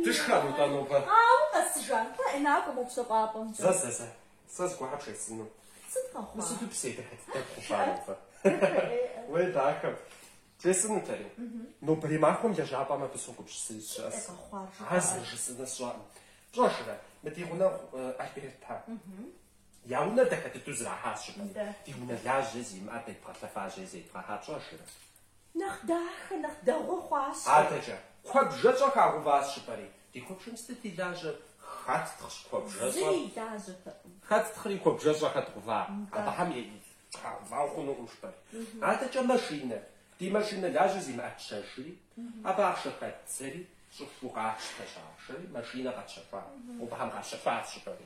Дышхэм итӏанобгъэ. Ауэ къэсыжам пэ накӏуэ пщэфӏапӏэмкӏэ. Зэ зэ зэ. Сэ зыгуэр бжесӏэну. Сыт къэхъуа? Мы сыту псей дыхьэт дэкху фарэфэ. Уей дахэм. Бжесӏэнутэри. Нобэрей махуэм лэжьапӏэм абы согупщысыри сыщӏэс. Ар зэрыжысӏэнур сщӏэркъым. Пщӏэжрэ, мы ди гъунэгъу Альбертэ. Я унэр дахэ дыдэу зэрахьащ жыпӏэри ди унэ лажьэ зимыӏэр къедбгъэлъэфэжри зедбгъэхьа пщӏэжрэ. Нэхъ дахэ, нэхъ дэгъуэ хъуащ. Адэкӏэ, куэбжэщӏэ хагъэуващ жыпӏэри. Ди куэбжэм сытыт и лажьэр? Хэттхъщ куэбжэщӏэ? Зыри и лажьэтэкъым. Хэттхъри куэбжэщӏэ хэдгъэува? Абыхэм хагъэувауэ хъунукъым жыпӏэри. Адэкӏэ машинэ, ди машинэ лажьэ зимыӏэр тщэжри, абы ахъшэ хэддзэри щӏыхуэу къатщтэщ ахъшэри, машинэ къэтщэхуа. Абыхэм къащэхуащ жыпӏэри.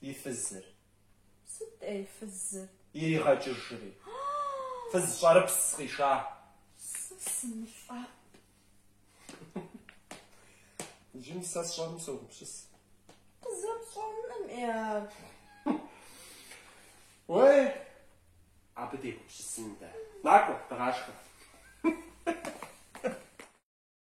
и фызыр. Сыт-тӏэ и фызыр? Иригъэкӏыжри фыз щӏэрыпс къиша. Сэ сымылӏэӏу. Иджы сэ сщӏэнум согупсыс. Къызэпщӏэнум я. Уей, абы дегупсысын дэ. Накӏуэ, дыгъашхэ.